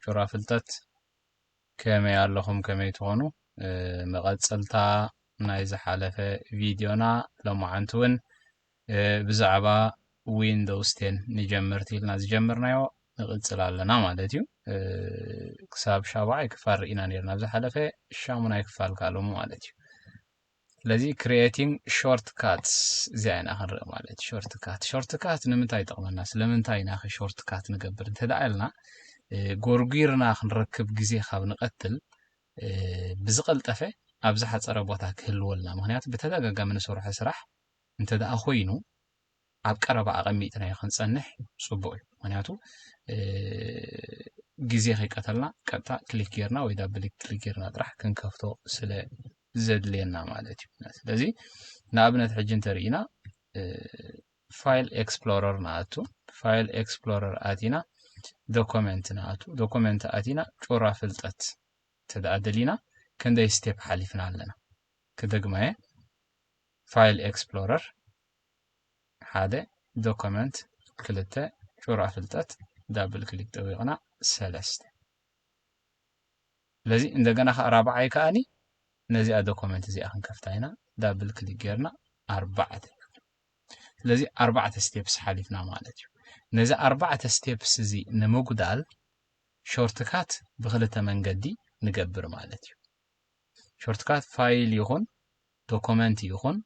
ጩራ ፍልጠት ከመይ ኣለኹም ከመይ ትኾኑ መቐፀልታ ናይ ዝሓለፈ ቪድዮና ሎማዓንቲ እውን ብዛዕባ ዊንዶውስ ቴን ንጀመርቲ ኢልና ዝጀመርናዮ ንቕፅል ኣለና ማለት እዩ ክሳብ ሻብዓይ ክፋል ርኢና ነርና ኣብ ዝሓለፈ ሻሙናይ ክፋል ካሎሙ ማለት እዩ ስለዚ ክሪኤቲንግ ሾርት ካትስ እዚኣ ኢና ክንርኢ ማለት ሾርት ካት ሾርት ካት ንምንታይ ይጠቕመና ስለምንታይ ኢና ሾርት ካት ንገብር እንተደኣ ኢልና ጎርጒርና ክንረክብ ግዜ ካብ ንቐትል ብዝቐልጠፈ ኣብ ዝሓፀረ ቦታ ክህልወልና ምክንያቱ ብተደጋጋሚ ንሰርሖ ስራሕ እንተደኣ ኮይኑ ኣብ ቀረባ ኣቐሚጥናዮ ክንጸንሕ ጽቡቕ እዩ ምክንያቱ ግዜ ከይቀተልና ቀጥታ ክሊክ ጌርና ወይ ዳብል ክሊክ ጌርና ጥራሕ ክንከፍቶ ስለ ዘድልየና ማለት እዩ ስለዚ ንኣብነት ሕጂ እንተርኢና ፋይል ኤክስፕሎረር ንኣቱ ፋይል ኤክስፕሎረር ኣቲና ዶኮመንት ንኣቱ ዶኮመንት ኣቲና ጩራ ፍልጠት ተደኣ ደሊና ክንደይ ስቴፕ ሓሊፍና ኣለና ክደግማየ ፋይል ኤክስፕሎረር ሓደ ዶኮመንት ክልተ ጩራ ፍልጠት ዳብል ክሊክ ጠዊቕና ሰለስተ ስለዚ እንደገና ከዓ ራብዓይ ከዓኒ ነዚኣ ዶኮመንት እዚኣ ክንከፍታ ኢና ዳብል ክሊክ ጌርና ኣርባዕተ ስለዚ ኣርባዕተ ስቴፕስ ሓሊፍና ማለት እዩ ነዚ ኣርባዕተ ስቴፕስ እዚ ንምጉዳል ሾርትካት ብክልተ መንገዲ ንገብር ማለት እዩ ሾርትካት ፋይል ይኹን ዶኮመንት ይኹን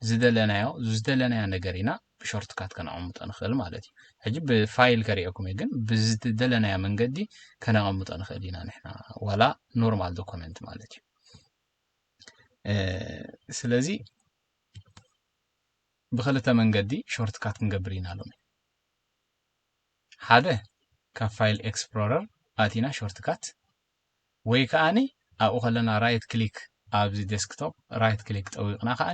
ዝደለናዮ ዝደለናዮ ነገር ኢና ብሾርትካት ከነቐምጦ ንኽእል ማለት እዩ ሕጂ ብፋይል ከሪኦኩም እዩ ግን ብዝደለናዮ መንገዲ ከነቐምጦ ንኽእል ኢና ንሕና ዋላ ኖርማል ዶኮመንት ማለት እዩ ስለዚ ብክልተ መንገዲ ሾርትካት ክንገብር ኢና ሎሚ ሓደ ካብ ፋይል ኤክስፕሎረር ኣቲና ሾርትካት ወይ ከኣ ኣብኡ ከለና ራይት ክሊክ ኣብዚ ዴስክቶፕ ራይት ክሊክ ጠዊቕና ከኣ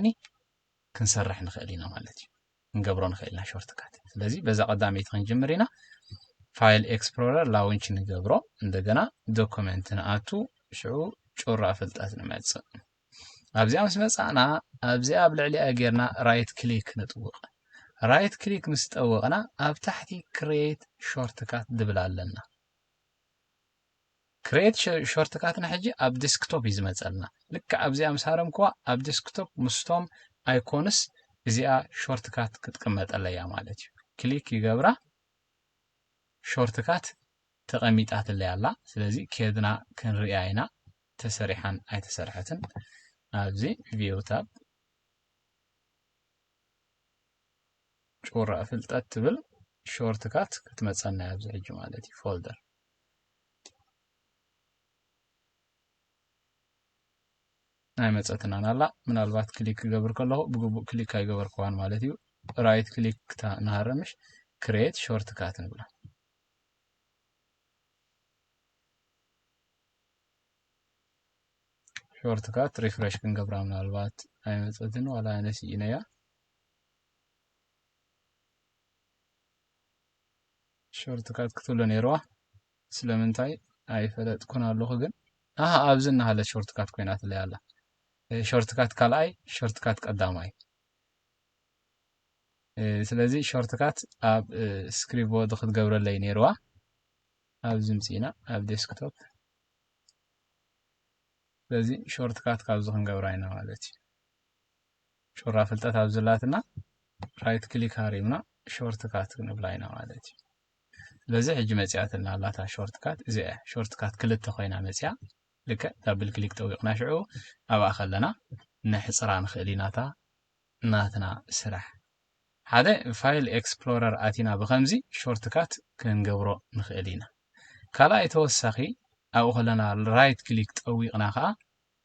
ክንሰርሕ ንኽእል ኢና ማለት እዩ ክንገብሮ ንኽእል ኢና ሾርትካት ስለዚ በዛ ቀዳመይቲ ክንጅምር ኢና ፋይል ኤክስፕሎረር ላውንች ንገብሮ እንደገና ዶክመንት ንኣቱ ሽዑ ጩራ ፍልጠት ንመጽእ ኣብዚኣ ምስ መጻእና ኣብዚኣ ኣብ ልዕሊኣ ጌርና ራይት ክሊክ ንጥውቕ ራይት ክሊክ ምስ ጠወቕና ኣብ ታሕቲ ክሬት ሾርትካት ድብል ኣለና ክሬት ሾርትካትና ሕጂ ኣብ ዲስክቶፕ እዩ ዝመፀልና ልክዕ ኣብዚኣ ምስ ሃረምክዋ ኣብ ዲስክቶፕ ምስቶም ኣይኮንስ እዚኣ ሾርትካት ክትቅመጠለያ ማለት እዩ ክሊክ ይገብራ ሾርትካት ተቐሚጣትለይ ኣላ ስለዚ ኬድና ክንሪያ ኢና ተሰሪሓን ኣይተሰርሐትን ኣብዚ ቪው ታብ ጩራ ፍልጠት ትብል ሾርትካት ክትመፀና ኣብዚ ሕጂ ማለት እዩ ፎልደር ኣይመፀትናን ኣላ ምናልባት ክሊክ ክገብር ከለኹ ብግቡእ ክሊክ ኣይገበርክዋን ማለት እዩ ራይት ክሊክ ክታ ንሃረምሽ ክሬት ሾርት ካት ንብላ ሾርት ካት ሪፍረሽ ክንገብራ ምናልባት ኣይመፀትን ዋላ ነስኢነያ ሾርት ካት ክትብሎ ነይርዋ ስለምንታይ ኣይፈለጥኩን ኣለኹ ግን ኣሃ ኣብዚ እናሃለት ሾርት ካት ኮይናትለይ ኣላ ሾርት ካት ካልኣይ ሾርት ካት ቀዳማይ ስለዚ ሾርት ካት ኣብ ስክሪፕት ቦርድ ክትገብረለይ ነይርዋ ኣብዚ ምፅኢና ኣብ ዴስክቶፕ ስለዚ ሾርት ካት ካብዚ ክንገብራ ኢና ማለት እዩ ጩራ ፍልጠት ኣብ ዘላትና ራይት ክሊክ ሃሪምና ሾርት ካት ክንብላ ኢና ማለት እዩ ስለዚ ሕጂ መፅያትና ኣላታ ሾርት ካት እዚ እያ ሾርት ካት ክልተ ኮይና መፅያ ልክዕ ዳብል ክሊክ ጠዊቕና ሽዑ ኣብኣ ከለና ነሕፅራ ንኽእል ኢናታ ናትና ስራሕ ሓደ ፋይል ኤክስፕሎረር ኣቲና ብከምዚ ሾርትካት ክንገብሮ ንኽእል ኢና ካልኣይ ተወሳኺ ኣብኡ ከለና ራይት ክሊክ ጠዊቕና ከዓ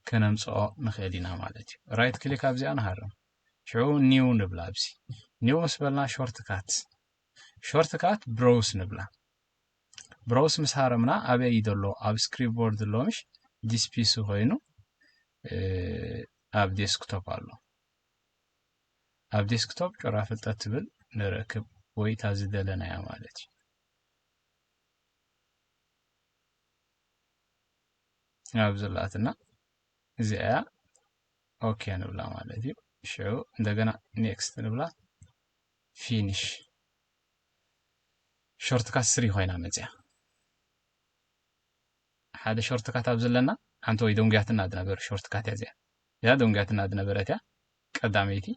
ከነምጽኦ ንኽእል ኢና ማለት እዩ። ራይት ክሊክ ኣብዚኣ ንሃርም። ሽዑ ኒው ንብላ ኣብዚ ኒው ምስ በልና ሾርት ካት ሾርት ካት ብሮውስ ንብላ ብሮውስ ምስ ሃረምና ኣበይ እዩ ዘሎ ኣብ ስክሪፕት ቦርድ ሎምሽ ዲስፒሲ ኮይኑ ኣብ ዴስክቶፕ ኣሎ ኣብ ዴስክቶፕ ጮራ ፍልጠት ትብል ንረክብ ወይ እታ ዝደለናያ ማለት እዩ ናብ ዘላትና እዚኣ እያ ኦኬ ንብላ ማለት እዩ ሽዑ እንደገና ኔክስት ንብላ ፊኒሽ ሾርትካት ስሪ ኮይና መፅያ ሓደ ሾርትካት ኣብ ዘለና ሓንቲ ወይ ደንጉያትና ዝነበረ ሾርትካት እያ እዚኣ እዚኣ ደንጉያትና ዝነበረት እያ ቀዳመይቲ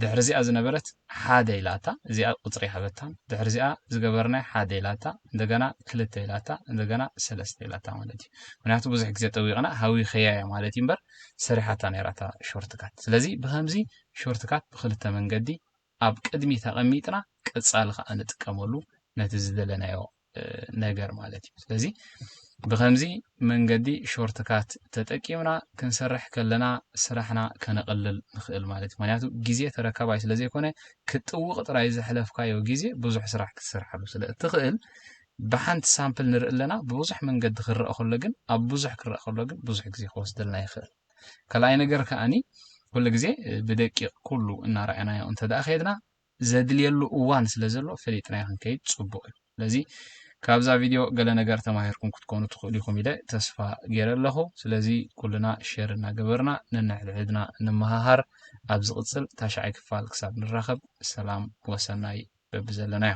ድሕሪዚኣ ዝነበረት ሓደ ኢላታ እዚኣ ቁፅሪ ሃበታን ድሕሪዚኣ ዝገበርናይ ሓደ ኢላታ እንደገና ክልተ ኢላታ እንደገና ሰለስተ ኢላታ ማለት እዩ ምክንያቱ ብዙሕ ግዜ ጠዊቕና ሃዊኸያ እያ ማለት እዩ እምበር ሰሪሓታ ነይራታ ሾርትካት ስለዚ ብከምዚ ሾርትካት ብክልተ መንገዲ ኣብ ቅድሚት ኣቐሚጥና ቀፃሊ ከዓ ንጥቀመሉ ነቲ ዝደለናዮ ነገር ማለት እዩ። ስለዚ ብከምዚ መንገዲ ሾርት ካት ተጠቂምና ክንሰርሕ ከለና ስራሕና ከነቕልል ንኽእል ማለት እዩ። ምክንያቱ ግዜ ተረካባይ ስለ ዘይኮነ ክትጥውቕ ጥራይ ዘሕለፍካዮ ግዜ ብዙሕ ስራሕ ክትሰርሓሉ ስለ እትኽእል ብሓንቲ ሳምፕል ንርኢ ኣለና። ብብዙሕ መንገዲ ክረአ ከሎ ግን ኣብ ብዙሕ ክረአ ከሎ ግን ብዙሕ ግዜ ክወስደልና ይኽእል። ካልኣይ ነገር ከኣኒ ኩሉ ግዜ ብደቂቕ ኩሉ እናረኣናዮ እንተደኣ ከድና ዘድልየሉ እዋን ስለ ዘሎ ፈሊጥናዮ ክንከይድ ጽቡቕ እዩ። ስለዚ ካብዛ ቪድዮ ገለ ነገር ተማሂርኩም ክትኮኑ ትኽእሉ ኢኹም ኢለ ተስፋ ገይረ ኣለኹ። ስለዚ ኩልና ሼር እናገበርና ነንሕድሕድና ንመሃሃር። ኣብ ዝቕጽል ታሽዓይ ክፋል ክሳብ ንራኸብ ሰላም ወሰናይ በብዘለናዮ።